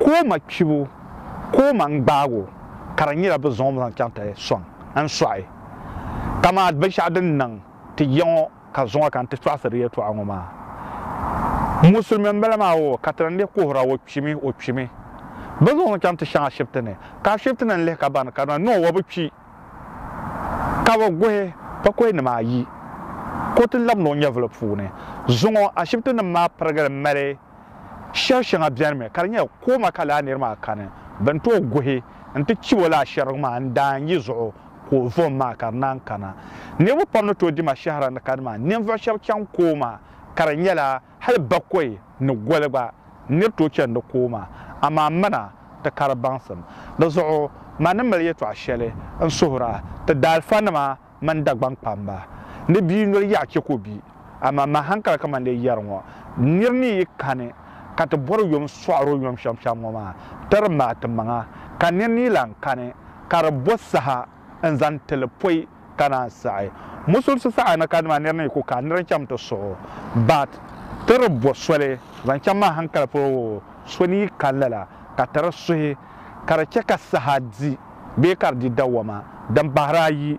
Ka o ma kpibu ka o ma n-gbaag o, ka di nyɛla bɛ zaŋ o zaŋ chaŋ ti sɔŋ n sɔɣi. Dama binshɛɣu din niŋ ti ya ŋɔ ka zuŋɔ ka n ti tɔɣisiri yɛltɔɣa ŋɔ maa. Musulimi m-bala maa o ka ti ni leei kuhir a o kpimi, o kpimi. Bɛ zaŋ o zaŋ chaŋ ti shɛŋa Ashibiti ni, ka Ashibiti na n-lihi ka bani ka di niŋ o o bi kpi, ka bɛ guhi pakɔinima ayi ka o ti lab ni o nyɛvili puuni. Zuŋɔ Ashibitinim maa pirigili mali. Shɛri shɛŋa bɛnimi ka di nyɛ kooma ka laa niri maa kani bɛn tooi guhi nti chib o laa shɛrigu maa n-daa n-yi zuɣu ka o vom maa ka di naan kana. Niriba pam ni tooi di ma shɛhira ni kani maa ninvuɣ shɛb chaŋ kooma ka di nyɛla hal bakɔi ni goli gba nir tooi chani di kooma. Amaa mana ti ka di baŋsim. Di zuɣu ma ni mali yɛtɔɣ shɛli n-suhir a ti daalifanima. mani Dagbaŋ kpamba ni bia noli yaɣa chɛ ka o bi. Amaa mali hankali kamani di yɛri ŋɔ, Nir ni yi kani ka ti bɔri yom sɔɣir o yom shɛm shɛm ŋɔ maa, ti di maai ti maŋa, ka nir ni yi lan kani ka di bo saha n-zaŋ ti li pɔi ka naan saɣi. Musulinsi saha ni kani maa nir ni yi ku ka nir n-chaŋ ti suɣ o, baat ti di bo soli zaŋ chaŋ mali hankali polo, so ni yi kani lala ka ti di suhi. ka di chɛ ka saha di bee ka di di dawɔma din bahiri ayi.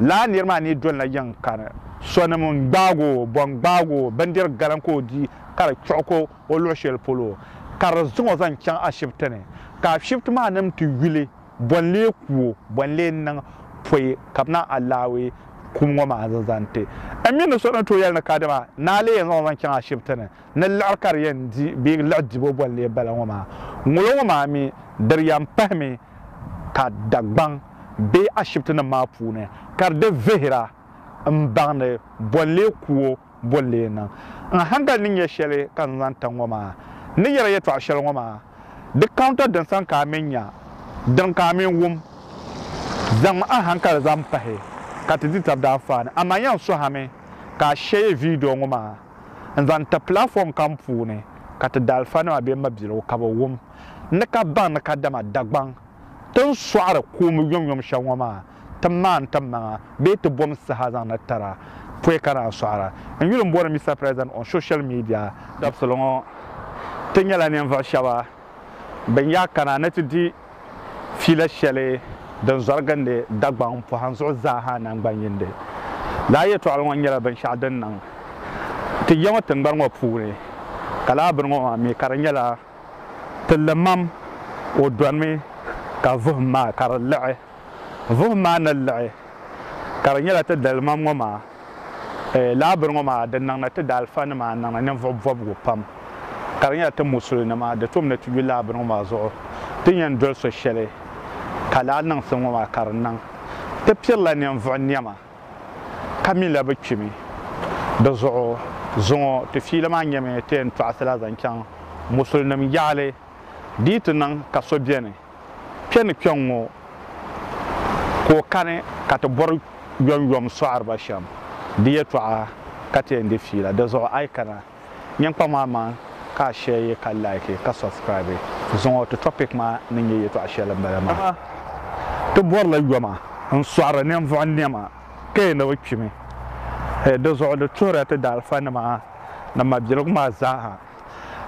Lala nir maa ni dolila yiŋ kani sɔnim n-gbaag o, bɔ n-gbaag o, bindir galan ka o di ka di kpiɣi ka o luɣ shɛli polo, ka di zaŋ o zaŋ chaŋ ashibiti ni, ka ashibiti maa nim ti yuli bɔ n-lee ku o, bɔ n-lee niŋ pɔi ka bɛ niŋ alaawee kum ŋɔ maa zaŋ ti n. M mi ni so ni tooi yɛli ni kadama ni a lee yɛn zaŋ o zaŋ chaŋ ashibiti ni. ni liɣiri ka di yɛn di bee liɣi dibo boli lee bala ŋɔ maa, ŋolo ŋɔ maa mi di yɛn pahimi ka Dagbaŋ bee ashibitinim maa puuni ka di di vihira m-baŋdi boli lee kuo boli lee niŋ. N hankali ni nya shɛli ka n zaŋ tiŋ ŋɔ maa ni yɛri yɛtɔɣ shɛli ŋɔ maa, di counter din sani ka a mi nya, din ka a mi wum. Zaŋm a hankali zaŋ pahi ka ti di tab daanfaani. Amaa yan suhami ka a shɛye video ŋɔ maa. n-zaŋ ti pilafɔm kam puuni ka ti daalifanima be mabiligu ka bɛ wum ni ka baŋ ni kadama Dagbaŋ ti ni sɔɣiri kuumbu yomyom shɛli ŋɔ maa ti maani ti maŋa bee ti bom saha zaŋ na tira pɔi ka naan sɔɣira. N yuli m-bɔri Mister President on social media. Dabisili ŋɔ, ti nyɛla ninvuɣu shɛba bɛn yaa kana ni ti di fila shɛli din zɔrigindi Dagbaŋ pɔhim zuɣu zaa ha naŋgban'yindi. Lala yɛtɔɣili ŋɔ nyɛla binshɛɣu din niŋ ti ya ŋɔ tiŋgbani ŋɔ puuni, ka lala bini ŋɔ maa mi ka di nyɛla ti limam o dɔnimi ka vuhim maa ka di liɣi. Vuhim maa ni liɣi ka di nyɛla ti dalimam ŋɔ maa. lahabiri ŋɔ maa di niŋna ti daalifanima a niŋla ninvuɣ bɔbigu pam. Ka di nyɛla ti musulinima di tom ni ti yu lahabiri ŋɔ maa zuɣu ti ni yɛn doli so shɛli ka lahi niŋ ti ŋɔ maa ka di niŋ. Ti pirila ninvuɣ nɛma ka minila bɛ kpimi. Di zuɣu zuŋɔ ti fiili maa nyɛmi ti yɛn tɔɣisila zaŋ chaŋ musulinim yaɣili di yi ti niŋ ka so beni Kpe ni kpe ŋ-ŋɔ ka o kani ka ti bɔri yɔnyɔm sɔɣiriba shɛm di yɛtɔɣa ka ti yɛn di fiila. Di zuɣu a yi kana nyini kpaŋ maa maŋ ka a shɛɛye ka laiki ka sɔbsikiraabi zuŋɔ. Ti tɔpik maa ni nyɛ yɛtɔɣa shɛli m-bala maa. Dama ti bɔrila yɔma n-sɔɣiri ninvuɣu nɛma ka yi ni bi kpimi. Di zuɣu di tuhirila ti daalifanima ni mabiligu maa zaa ha.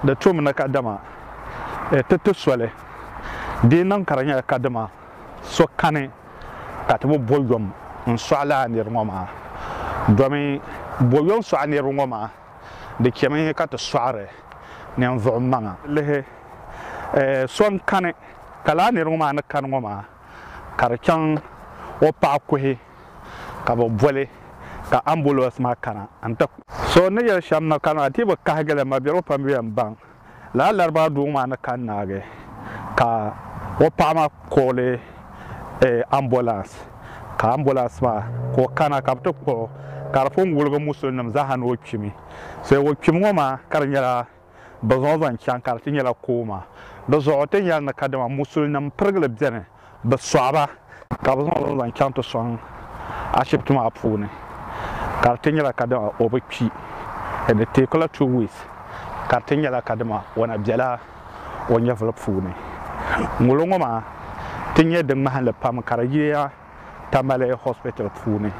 di tum ni kadama e ti ti soli, di niŋ ka di nyɛla kadama so kani ka ti bi bo yom n-sɔɣi lala niriba ŋɔ maa. Domi bo yom sɔɣi niriba ŋɔ maa, di chemi ka ti sɔɣiri ninvuɣ maŋa. Lihi e so n-kani ka lala niriba ŋɔ maa ni kani ŋɔ maa ka di chaŋ o paɣa kuhi. ka bɛ boli ka ambulance maa kana n-ti. So ni yɛli shɛm ni kani a dii bi kahigi li ma birigu pam yɛn baŋ lala laribaa doo maa ni kani naagi ka o paɣa maa kɔɔli ambulance ka ambulance maa ka o kana ka bɛ ti kpuɣi o ka di pun wuligi musulinim zaa ha ni o kpimi so o kpimi ŋɔ maa ka di nyɛla bɛ zaŋ zaŋ chaŋ ka di ti nyɛla kooma. Di zuɣu ti ni yɛli ni kadama musulinim pirigili beni bɛ sɔɣi ba ka bɛ zaŋ ba zaŋ chaŋ ti sɔŋ ashibiti maa puuni ka di ti nyɛla kadama o bi kpi ni di teeku la two weeks ka di ti nyɛla kadama o na bela o nyɛvuli puuni. Ŋolo ŋɔ maa ti nyɛ di ŋmahinli pam ka di yiya Tamale Hospital puuni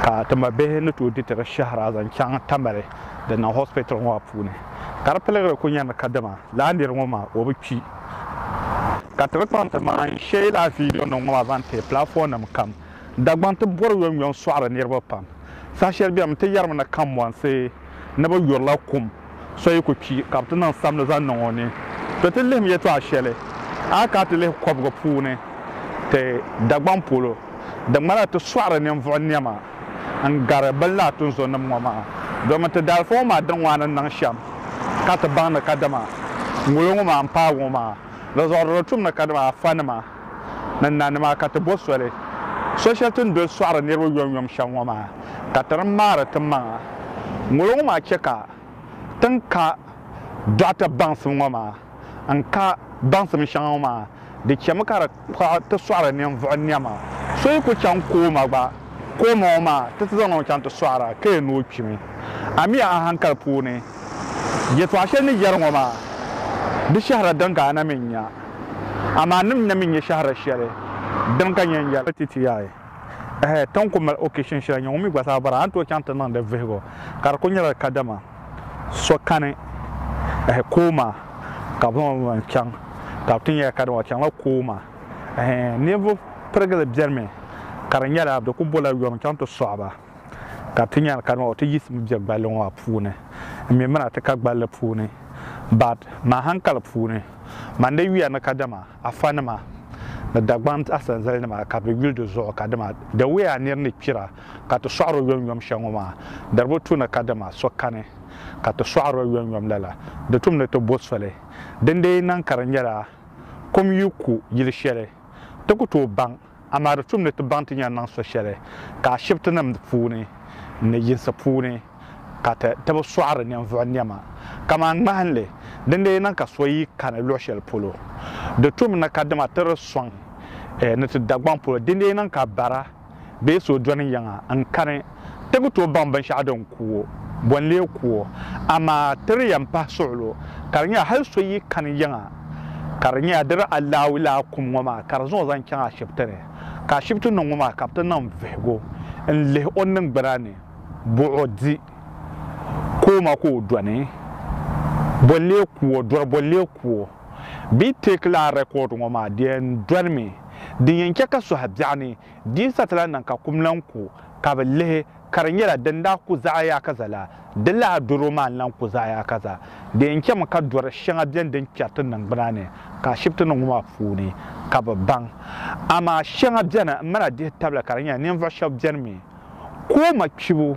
ka tima bihi ni tooi di ti di shɛhira zaŋ chaŋ Tamale din niŋ hospital ŋɔ maa puuni ka di piligiri kuli nyɛ ni kadama lala niri ŋɔ maa o bi kpi ka ti ni kpaŋ ti maŋa n sheei lala video nim ŋɔ maa zaŋ ti platform nim kam Dagbaŋ ti bɔri yom yom sɔɣiri niriba pam saha shɛli bɛni mi ti yɛrimi ni Kanbɔnsi ni bi yurila kum So yi ku kpi ka bɛ ti niŋ sabini zaŋ niŋ o ni, ti ti lihim yɛtɔɣ shɛli a ka ti lihi kɔbiga puuni ti Dagbaŋ polo din ŋmanila ti sɔɣiri ninvuɣ nɛma n-gari bɛ ni lahi tu n-zonim ŋɔ maa. Domin ti daalifa ŋɔ maa din ŋɔ a ni niŋ shɛm ka ti baŋ ni kadama ŋolo ŋɔ maa m-paagi ŋɔ maa, di zuɣu di di tum ni kadama afanima. ni nanima ka ti bo soli so shɛli ti ni doli sɔɣiri niriba yomyom shɛm ŋɔ maa ka ti ni maari ti maŋa. Ŋolo ŋɔ maa chɛ ka ti ni ka dɔɣita baŋsim ŋɔ maa n-ka baŋsim shɛŋa ŋɔ maa, di chɛmi ka di kpuɣi ti sɔɣiri ninvuɣ nɛma. So yi ku chaŋ kooma gba, kooma ŋɔ maa ti ti zaŋdi o chaŋ ti sɔɣira ka yɛn ni o kpimi. Amiya a haŋkali puuni. Yɛtɔɣ shɛli ni yɛri ŋɔ maa, di shɛhira din ka a na mi n-nya, amaa nim na mi nyɛ shɛhira shɛli din ka nya n-yɛli. Ti ti yaɣi ɛhɛ, tiŋ ku mali occasion shɛli nya ŋun mi gba zaa bɔra a ni tooi chaŋ ti niŋdi vihigu ka di ku nyɛla kadama so kani ɛhɛ Kooma ka bɛ zaŋ o zaŋ chaŋ ka bɛ ti nya ya kadama o chaŋla Kooma ɛhɛ ninvuɣ pirigili bɛnimi ka di nyɛla bɛ ku bola yom chaŋ ti sɔɣi ba. Ka ti nyari ka nɔɔ ti yiɣisimi be gballi ŋɔ a puuni. M mi mina ti ka gballi puuni, Bad maa hankali puuni. Man di yuya ni kadama a fanima ni Dagbaŋ asanzalinima ka bɛ yuli di zuɣu ka dama dawee a nir ni kpira ka ti sɔɣir o yomyom shɛl ŋɔ maa di bi tu ni kadama so kani ka ti sɔɣir o yomyom lala di tum ni ti bo soli. Dindee naŋ ka di nyɛla kom yi ku yili shɛli ti ku tooi baŋ Amaa di tum ni ti baŋ ti ni yɛn niŋ so shɛli ka ashibitinim puuni ni yinsi puuni ka ti bi sɔɣiri ninvuɣu nɛma kaman ŋmahinli. Din lee niŋ ka so yi kani luɣ shɛli polo, di tum ni kadama ti di sɔŋ ni ti Dagbaŋ polo. Din lee niŋ ka bara bee so dɔni yiŋa n-kani. Ti bi tooi baŋ binshɛɣu din ku o, bɔ n-lee ku o, amaa ti di yɛn pahi suɣulo, ka di nyɛla hal so yi kani yiŋa, ka di nyɛla diri alaui laa kum ŋɔ maa ka di zaŋ o zaŋ chaŋ ashibiti ni, ka ashibiti ni ŋɔ maa ka bɛ ti niŋ vihigu n-lihi o niŋgbuna ni, bɔ o di kooma ka o dɔni, bɔ n-lee ku o, dɔri bɔ n-lee ku o. Bɛ yi teeki lala rɛkɔɔdi ŋɔ maa, di yɛn dolimi, din yɛn chɛ ka suhu biɛɣuni Di sa ti lahi niŋ ka kum lan ku ka bɛ lihi ka di nyɛla din daa ku zaɣ yaakaza la, di lahi doro maa n-lan ku zaɣ yaakaza. Di yɛn chɛmi ka dɔri shɛŋa beni din kpɛri ti niŋgbuna ni ka Ashibiti ni ŋɔ maa puuni ka bɛ baŋ. Amaa shɛŋa beni m-mali a dihi tabili ka di nyɛla ninvuɣ shɛb beni mi ka o ma kpibu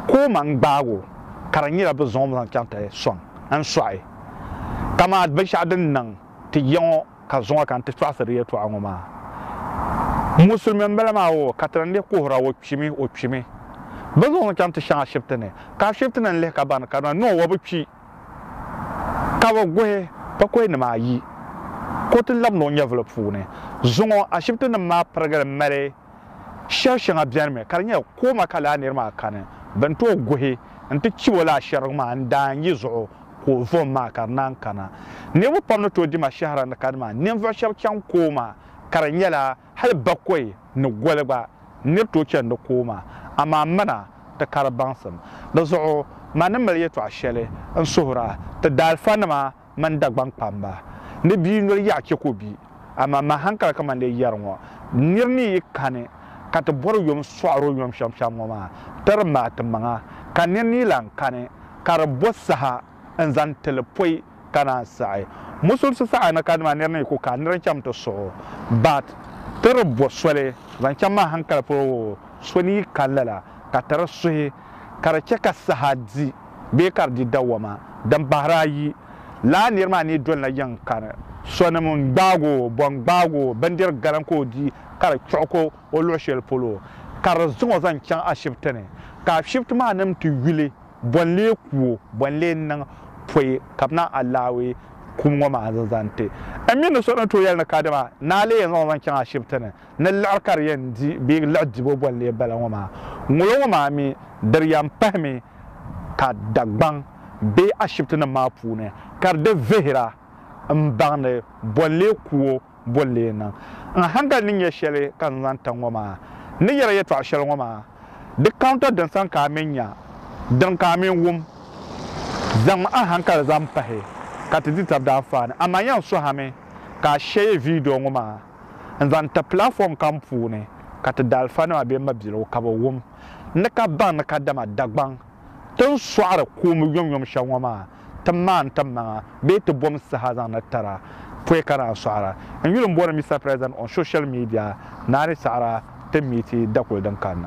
ka o ma n-gbaag o ka di nyɛla bɛ zaŋ o mi zaŋ chaŋ ti sɔŋ n-sɔɣi. Kaman binshɛɣu din niŋ ti ya ŋɔ. Ka zuŋɔ ka n ti tɔɣisiri yɛtɔɣa ŋɔ maa. Musulimi m-bala maa o ka ti n-lihi kuhir a o kpimi, o kpimi. Bɛ zuŋɔ n-chaŋ ti shɛŋa Ashibiti ni, ka Ashibiti ni n-lihi ka bani ka na ni o o bi kpi. Ka bɛ guhi pakɔinima ayi ka o ti labi ni o nyɛvili puuni. Zuŋɔ Ashibitinim maa pirigili mali. Shɛri shɛŋa bɛnimi ka di nyɛ kooma ka laa niri maa kani bɛn tooi guhi n-ti chib o laa shɛrigu maa n-daan yi zuɣu ka o vom maa ka di naan kana. Niriba pam ni tooi di ma shɛhira ni kani maa ninvuɣ shɛb chaŋ kooma ka di nyɛla hal bakɔi ni goli gba nir tooi chani di kooma. Amaa mana ti ka di baŋsim. Di zuɣu ma ni mali yɛtɔɣ shɛli n-suhir a ti daalifanima. mani Dagbaŋ kpamba ni bia noli yaɣa chɛ ka o bi. Amaa mali hankali kamani di yɛri ŋɔ, Nir ni yi kani ka ti bɔri yom sɔɣir o yom shɛm shɛm ŋɔ maa, tiri ma a timaŋa, ka nir ni yi lan kani ka di bo saha n-zaŋ ti li pɔi ka naan saɣi musulisi saɣi ni ka dima nir ni yi ku ka nir n-chaŋ ti suɣ o, baat tiri bo soli zaŋ chaŋ mali hankali polo woo so ni yi kani lala ka tiri suhi. ka di chɛ ka saha di bee ka di di dawɔma din bahiri ayi. Lala nir maa ni dolila yiŋ kani sɔnim n-gbaag o, bɔ n-gbaag o, bindir galan ka o di ka di kpiɣi ko o luɣ shɛli polo, ka di zaŋ o zaŋ chaŋ ashibiti ni. Ka ashibiti maa nim ti yuli bɔ n-lee ku o, bɔ n-lee niŋ pɔi ka bɛ naai alaawee kum ŋɔ maa zaŋ ti n mi ni so ni tooi yɛli ni kadama ni a lee yɛn zaŋ o zaŋ chaŋ ashibiti ni. ni liɣiri ka di yɛn di bee liɣi dibo boli lee bala ŋɔ maa, ŋolo ŋɔ maa mi di yɛn pahimi ka Dagbaŋ bee ashibitinim maa puuni ka di di vihira m-baŋdi boli lee kuo boli lee niŋ. N haŋgal ni nya shɛli ka n zaŋ tiŋ ŋɔ maa ni yɛri yɛtɔɣ shɛli ŋɔ maa, di counter din sani ka a mi nya, din ka a mi wum. Zaŋm a haŋkali zaŋ pahi ka ti di tab daanfaani. Amaa yan suhami ka a shɛyi video ŋɔ maa. n-zaŋ ti pilafɔm kam puuni ka ti daalifanima be mabiligu ka bɛ wum ni ka baŋ ni kadama Dagbaŋ ti ni sɔɣiri kuumbu yomyom shɛli ŋɔ maa ti maani timaŋa bee ti bom saha zaŋ na tira pɔi ka naan sɔɣira. N yuli m-bɔri Mister President on social media naani saɣira ti meeti dakuli din kanna.